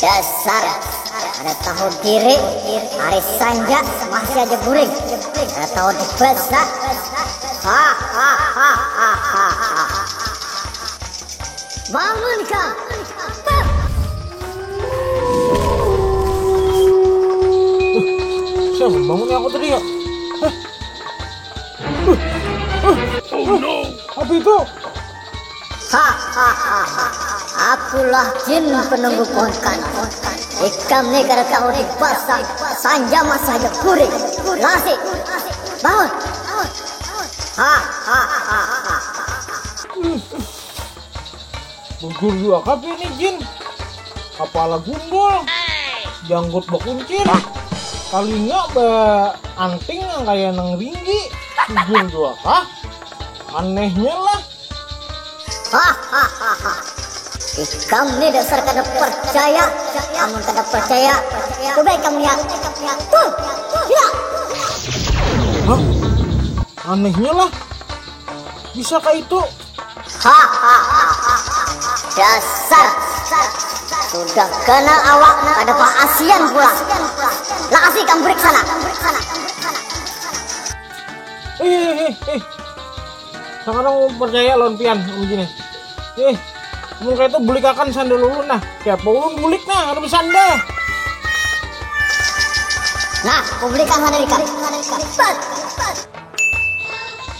Dasar kada tahu diri, hari sanja masih aja guring, kada tahu dibaca. Bangun kau! Siapa yang membangunnya aku tadi ya? Akulah jin penunggu pohon kanan. Ikam ni kada tahu di basah. Sanja masa aja kuring. Lasi. Bangun. Hahaha. Bujur jua kah pian nih Jin, kapala gundul, janggut bakuncir, talinga ba anting nang kaya nang ringgi, bujur jua kah? Anehnya lah. Hahahaha. Ikam nih dasar kada parcaya, amun kada parcaya coba ikam lihat. Tuh, lihat. Hah? Anehnya lah. Bisa kah itu? Hahaha. Dasar. Sudah kena awak kada paasian pulang. Lakasi ikam break sana. Ih ih ih. Sakarang ulun percaya lawan pian amun gini. Ih. Amun kaya itu bulikakan sandal ulun nah. Kaya apa ulun bulik nah kada besandal. Nah, kubulikan sandal ikam. Bat.